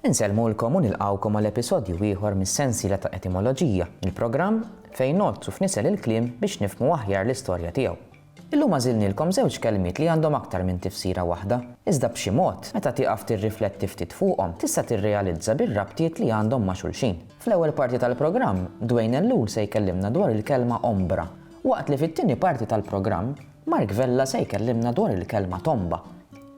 Insellmulkom u nilqgħukom għal episodju ieħor mis-sensiela ta' Etimoloġija, il-programm fejn ngħoddsu f'nisel il-kliem biex nifhmu aħjar l-istorja tiegħu. Illum għażilnielkom żewġ kelmiet li għandhom aktar minn tifsira waħda, iżda b'xi mod, meta tieqaf tirrifletti ftit fuqhom, tista' tirrealizza bir-rabtiet li għandhom ma' xulxin. Fl-ewwel parti tal-programm, Dwayne Ellul se jkellimna dwar il-kelma ombra, waqt li fit-tieni parti tal-programm, Mark Vella se jkellimna dwar il-kelma tomba.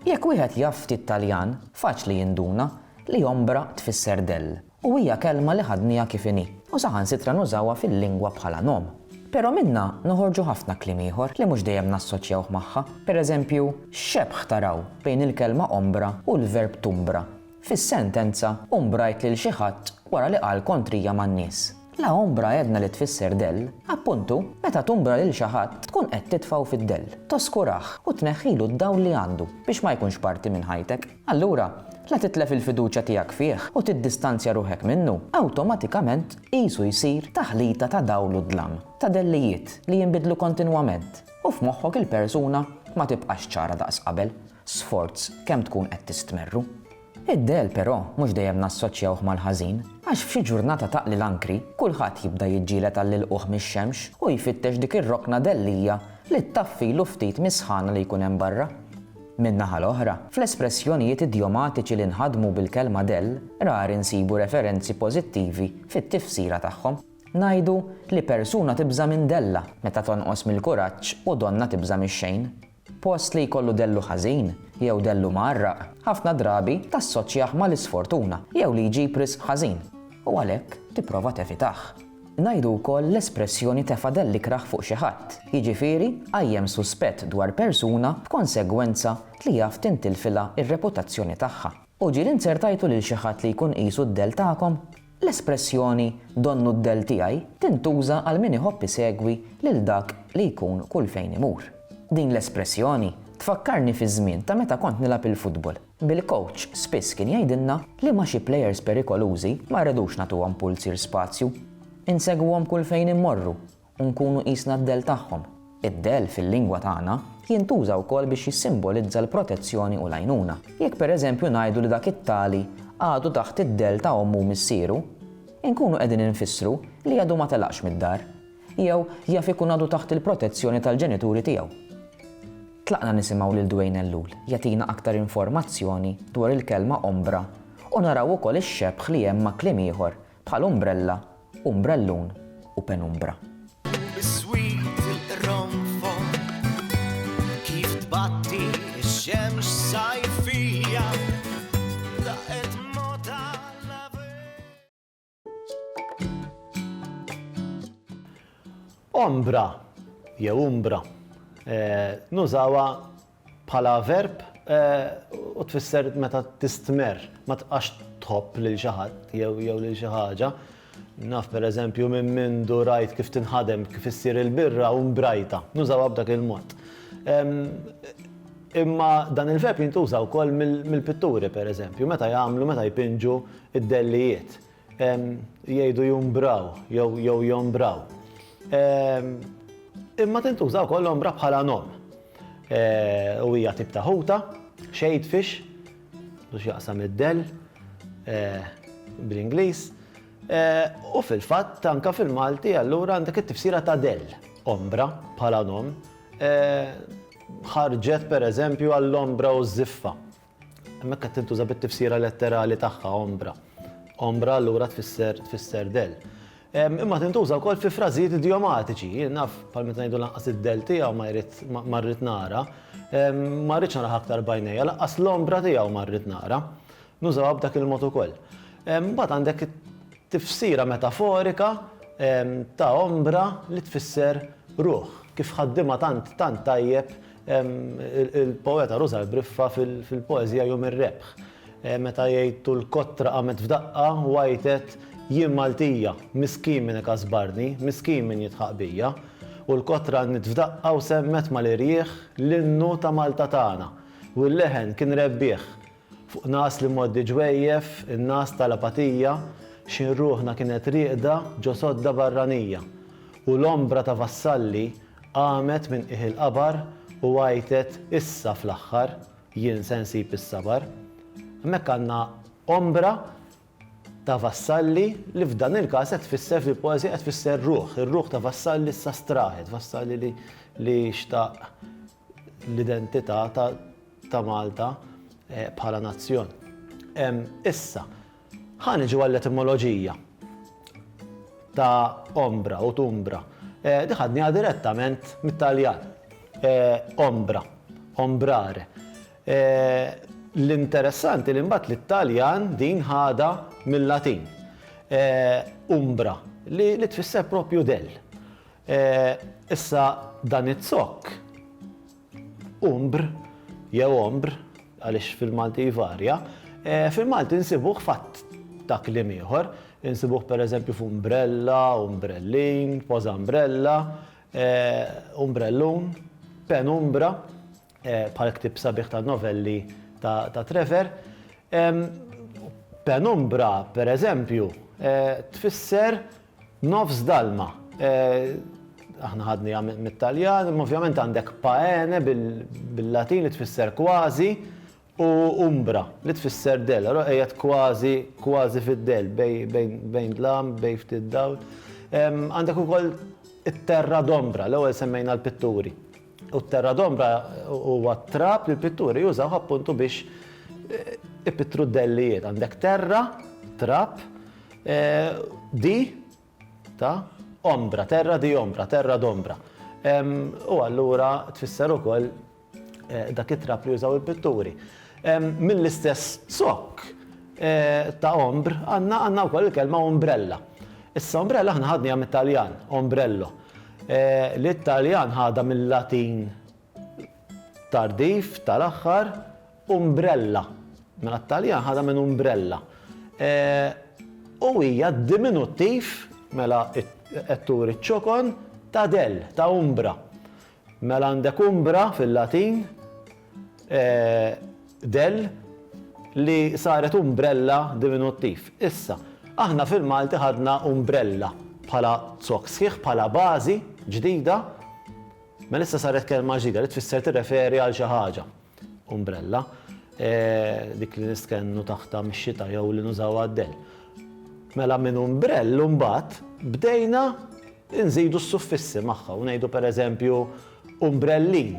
Jekk wieħed jaf ftit Taljan, faċli jinduna li ombra tfisser dell u hija kelma li ħadniha kif inhi u saħansitra nużawha fil-lingwa bħala nom. Però minnha noħorġu ħafna kliem ieħor li mhux dejjem nassoċjawh magħha. Pereżempju, x'xebħ taraw bejn il-kelma ombra u l-verb tumbra? Fis-sentenza, umbrajt lil xi ħadd wara li qal kontrija man-nies. La ombra għedna li tfisser dell. Appuntu, meta tumbra lil xi ħadd tkun qed titfgħu fid-dell, toskurah u tneħħilu d-dawl li għandu biex ma jkunx parti minn ħajtek. Allura, la titlef il-fiduċja tiegħek fih u tiddistanzja ruħek minnu, awtomatikament qisu jsir taħlita ta' dawl u dlam, ta' dellijiet li jinbidlu kontinwament u f'moħħok il-persuna ma tibqax ċara daqs qabel. sforz kemm tkun qed tistmerru. Id-dell, però, mhux dejjem nassoċjawh mal-ħażin, għax f'xi ġurnata taqli l-ankri, kulħadd jibda jiġġieled għall-ilqugħ mix-xemx u jfittex dik ir-rokna dellija li ttaffilu ftit mis-sħana li jkun hemm barra. Min-naħa l-oħra, fl-espressjonijiet idjomatiċi li nħadmu bil-kelma dell, rari nsibu referenzi pożittivi fit-tifsira tagħhom. Ngħidu li persuna tibża' minn dellha meta tonqos mill-kuraġġ u donnha tibża' mix-xejn. Post li jkollu dellu ħażin, jew dellu mgħarraq, ħafna drabi tassoċjah mal-isfortuna jew li jġib riżq ħażin, u għalhekk tipprova tevitah. Ngħidu wkoll l-espressjoni tefa' dell ikrah fuq xi ħadd, jiġifieri qajjem suspett dwar persuna b'konsegwenza li jaf tintilfilha r-reputazzjoni tagħha. U ġieli nzertajtu lil xi ħadd li jkun qisu d-dell tagħkom? L-espressjoni donnu d-dell tiegħi tintuża għal min iħobb isegwi lil dak li jkun kull fejn imur. Din l-espressjoni tfakkarni fiż-żmien ta' meta kont nilgħab il-futbol. Bil-kowċ spiss kien jgħidilna li ma' xi plejers perikolużi ma rridux nagħtuhom pulzir spazju. Insegwuhom kull fejn immorru u nkunu qisna d-dell tagħhom. Id-dell fil-lingwa tagħna jintuża wkoll biex jissimbolizza l-protezzjoni u l-għajnuna. Jekk pereżempju ngħidu li dak it-tali għadu taħt id-dell ta' ommu u missieru, inkunu qegħdin infissru li għadu ma telaqx mid-dar, jew jaf ikun għadu taħt il-protezzjoni tal-ġenituri tiegħu. Tlaqna nisimgħu lil Duane Ellul jagħtina aktar informazzjoni dwar il-kelma ombra u naraw ukoll ix-xebħ li hemm ma' kliem ieħor Bħal umbrella, umbrellun u penumbra. Biswit il-qronfol kif tbatti x-xemx sajfija daqet mod għall-avel. Ombra jew umbra nużawha bħala verb u tfisser meta tistmerr, ma tibqax tħobb lil xi ħadd jew lil xi ħaġa. Naf pereżempju minn mindu rajt kif tinħadem, kif issir il-birra u mbrajta. Nużawha b'dak il-mod. Imma dan il-verb jintuża wkoll mill-pitturi pereżempju, meta jagħmlu, meta jpinġu d-dellijiet. Jgħidu jumbraw jew jombraw. Imma tintuża wkoll ombra bħala nom. U hija tip ta' ħuta, shade fish, biex jaqsam id-dell bl-Ingliż. U fil-fatt anke fil-Malti allura għandek it-tifsira ta' dell, ombra bħala nom. Ħarġet pereżempju għall-ombra u ż-żiffa Hemmhekk qed tintuża bit-tifsira letterali tagħha ombra. Ombra allura tfisser tfisser del. Imma tintuża wkoll fi frażijiet idiomatiċi, jien naf bħal meta ngħidu lanqas id-del tiegħu ma jrid ma rrid nara, ma rridx naraħ aktar bajnejja, lanqas l-ombra tiegħu ma rrid nara. Nużawha b'dak il-mod ukoll. Mbagħad għandek tifsira metaforika ta' ombra li tfisser ruħ, kif ħaddiema tant tant tajjeb Il-poeta Rosa Briffa fil-poeżija Jum ir-Rebħ, meta jgħid tul kotra qamet f'daqqa u għajtet, Jien Maltija, miskin min ikasbarni, miskin min jidħaq bija. U l-kotra għannit f'daqqa u semmet mal-irjieħ l-innu ta' Malta tagħna. U l-leħen kien rebbieħ. Fuq nas li mgħoddi ġwejjef, in-nas ta' l-apatija, x'in ruħna kienet rieqda ġo sodda barranija, u l-ombra ta' vassalli qamet minn qiegħ il-qabar u għajtet, Issa, fl-aħħar, jien se nsib is-sabar. Hemmhekk għandna ombra ta' vassalli li f'dan il-każ qed tfisser fil-poeżija qed tfisser ruħ, ir-ruħ ta' vassalli issa straħet, vassalli li xtaq l-identità ta' Malta bħala nazzjon. Issa, ħa niġu għall-etimoloġija ta' ombra u tumbra. Din ħadniha direttament mit-Taljan. Ombra, ombrare. L-interessanti li mbagħad li t-Taljan din ħadha mil-Latin. Umbra, li tfisser proprju dell. Issa dan iz-zokk, umbr jew ombr, għaliex fil-Malti jvarja, fil-Malti nsibuh f'għadd ta' kliem ieħor. Insibuh pereżempju f'umbrella, umbrellin, pożambrella, umbrellun, penumbra. bħal ktieb sabiħ ta' novelli ta' Trevor. Penumbra, per eżempju, tfisser nofs dalma. Aħna ħadniha mit-Taljan, imma ovvjament għandek paene bil-Latin li tfisser kważi, u umbra, li tfisser dell, allura qiegħed kważi, kważi fid-dell, bejn dlam, bejn ftit dawl. Għandek ukoll it-terra d'ombra, l-ewwel semmejna l-pitturi. U t-terra d'ombra huwa t-trab li l-pitturi jużaw appuntu biex ipittru d-dellijiet. Għandek terra, trab, di, ta', ombra, terra di ombra, terra d'ombra. U allura tfisser ukoll dak it-trab li jużaw il-pitturi. Mill-istess sokk ta' ombr għandna wkoll il-kelma umbrella. Issa umbrella aħna ħadniha mit-Taljan, ombrello, li t-Taljan ħadha mil-Latin tardiv tal-aħħar Umbrella, mela t-Taljan ħadha minn umbrella. U hija d-diminuttiv, mela qed turi ċ-ċokon, ta' dell, ta' umbra. Mela għandek umbra fil-Latin, dell, li saret umbrella diminuttiv. Issa, aħna fil-Malti ħadna umbrella bħala zokk sħiħ, bħala bażi ġdida, mela issa saret kelma ġdida li tfisser tirreferi għal xi ħaġa. Umbrella, dik li nistkennu taħtha mix-xita jew li nużaw għad-dell. Mela minn umbrell imbagħad bdejna nżidu s-suffissi magħha u ngħidu pereżempju umbrellin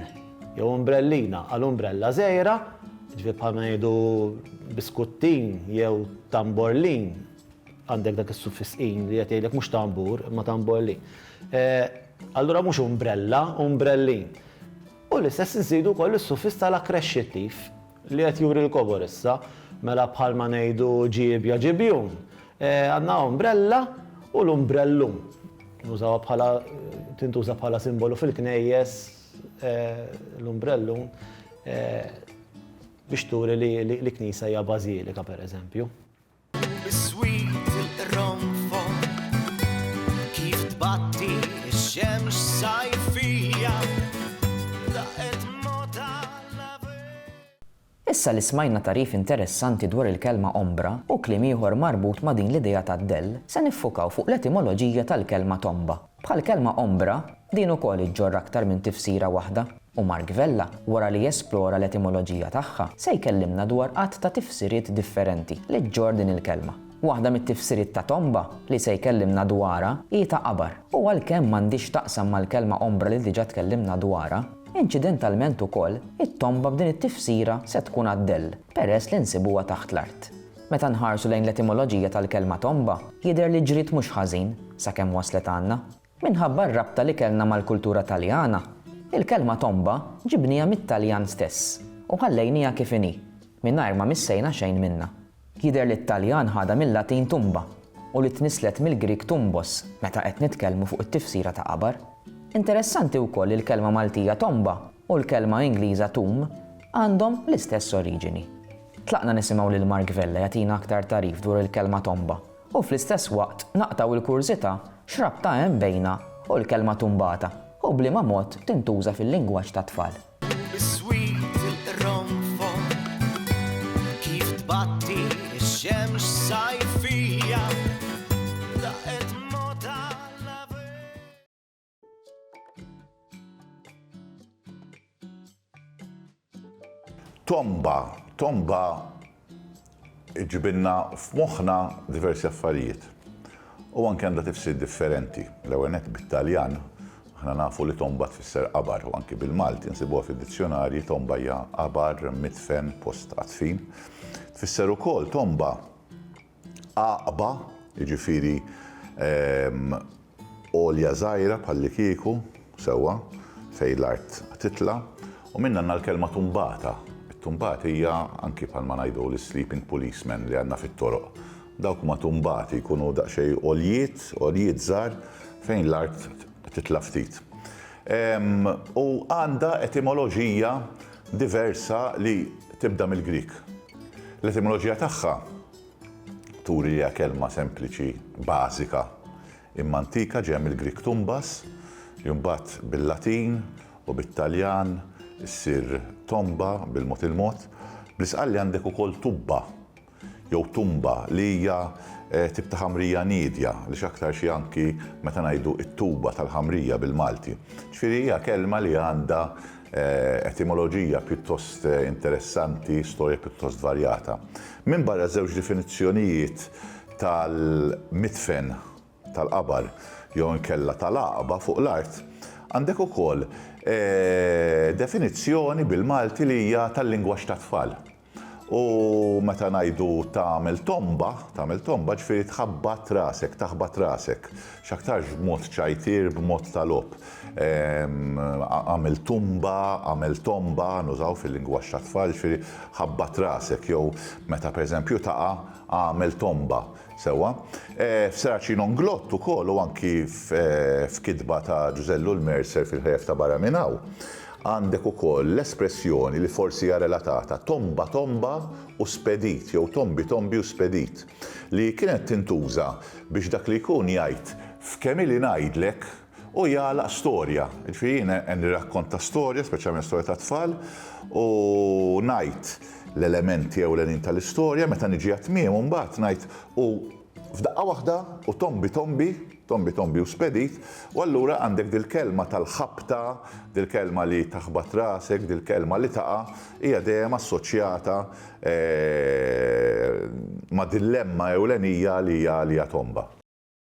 jew umbrellina għal umbrella żgħira, ġifier bħal ma ngħidu biskuttin jew tamborlin, għandek dak is-suffiss in li qed jgħidlek mhux tambur imma tamborlin. Eh, allura mhux umbrella, umbrellin. U l-istess inżidu wkoll is-suffiss tal-akkresċittiv, li qed juri l-kobor issa, mela bħalma ngħidu ġiebja, ġibjun. Għandna umbrella u l-umbrellum. Nużawha bħala, tintuża bħala simbolu fil-knejjes l-umbrellum biex turi li knisja hija bażilika, pereżempju. Issa li smajna tagħrif interessanti dwar il-kelma ombra u kliem ieħor marbut ma' din l-idea ta' dell, se niffukaw fuq l-etimoloġija tal-kelma tomba. Bħall-kelma ombra, din ukoll iġġorr aktar minn tifsira waħda, u Mark Vella, wara li jesplora l-etimoloġija tagħha, se jkellimna dwar għadd ta' tifsiriet differenti li ġġorr din il-kelma. Waħda mit-tifsiriet ta' tomba li se jkellimna dwarha hi ta' qabar, u għalkemm m'għandhiex x'taqsam mal-kelma ombra li diġà tkellimna dwarha, inċidentalment ukoll it-tomba b'din it-tifsira se tkun għad-dell, peress li nsibuha taħt l-art. Meta nħarsu lejn l-etimoloġija tal-kelma tomba, jidher li ġriet mhux ħażin sakemm waslet għandna. Minħabba r-rabta li kellna mal-kultura Taljana, il-kelma tomba ġibniha mit-Taljan stess u ħallejnieha kif inhi, mingħajr ma missejna xejn minnha. Jidher li t-Taljan ħadha mil-Latin tumba u li tnisslet mill-Grieg tumbos meta qed nitkellmu fuq it-tifsira ta' qabar. Interessanti wkoll li l-kelma Maltija tomba u l-kelma Ingliża tomb għandhom l-istess oriġini. Tlaqna nisimgħu lil Mark Vella jagħtina aktar tagħrif dwar il-kelma tomba u fl-istess waqt naqtgħu l-kurżità x'rabta hemm bejnha u l-kelma tumbata u b'liema mod tintuża fil-lingwaġġ tat-tfal. Tomba, tomba ġibinna f'moħħna diversi affarijiet. U anke għandha tifsir differenti. L-ewwel bit-Taljan Aħna nafu li tomba tfisser qabar u anki bil-Malti nsibuha fid-dizzjonarji tomba hija qabar, mitfen, post għatfin. Tfisser ukoll tomba għaqba, jiġifieri għolja żgħira bħallikieku, sewwa, fejn l-art titla', u minnanna l-kelma tumbata. It-tumbat hija anki bħalma ngħidu l-sleeping policemen li għandna fit-toroq. Dawk huma tumbati, jkunu daqsxejn għoljiet, għoljiet żgħar fejn l-art titla' ftit. U għandha etimoloġija diversa li tibda mill-Grieg. L-etimoloġija tagħha turi li hija kelma sempliċi, bażika, imma antika ġejja mill-Grieg tumbas, li mbagħad bil-Latin u bit-Taljan issir tomba bil-mod il-mod. Bl-Isqalli għandek ukoll tubba, jew tumba li hija tip ta' ħamrija niedja, li x'aktar xi anki meta ngħidu t-tuba tal-ħamrija bil-Malti. Ġifieri hija kelma li għandha etimoloġija pjuttost interessanti, storja pjuttost varjata. Minbarra ż-żewġ definizzjonijiet tal-midfen tal-qabar jew inkella tal-għaqba fuq l-art, għandek ukoll definizzjoni bil-Malti li hija tal-lingwaġġ tat-tfal. U meta ngħidu tagħmel tomba, tagħmel tomba ġifieri tħabbat rasek, taħbat rasek. X'aktarx b'mod ċajtier, b'mod ta' logħob. Ehm, għamel tumba, għamel tomba, nużaw fil-lingwaġġ tat-tfal, ġifieri ħabbat rasek jew meta pereżempju taqa' għamel tomba. Sewwa. F'Seraci non glott ukoll u anki f'kitba ta' Ġużellu l-Mercer fil-Ħlejjef ta' Barra Minn Hawn, għandek ukoll l-espressjoni li forsi hija relatata, tomba tomba u spedit jew tombi tombi u spedit, li kienet tintuża biex dak li jkun jgħid, f'kemm ili ngħidlek, u jagħlaq storja. Jiġifieri jien nirrakkonta storja, speċjalment storja tat-tfal, u ngħid l-elementi ewlenin tal-istorja, meta niġi għat-tmiem imbagħad ngħid u f'daqqa waħda u tombi tombi, tombi tombi u spedit, u allura għandek dil-kelma tal-ħabta, dil-kelma li taħbat rasek, dil-kelma li taqa', hija dejjem assoċjata ma' dil-lemma ewlenija li hija tomba.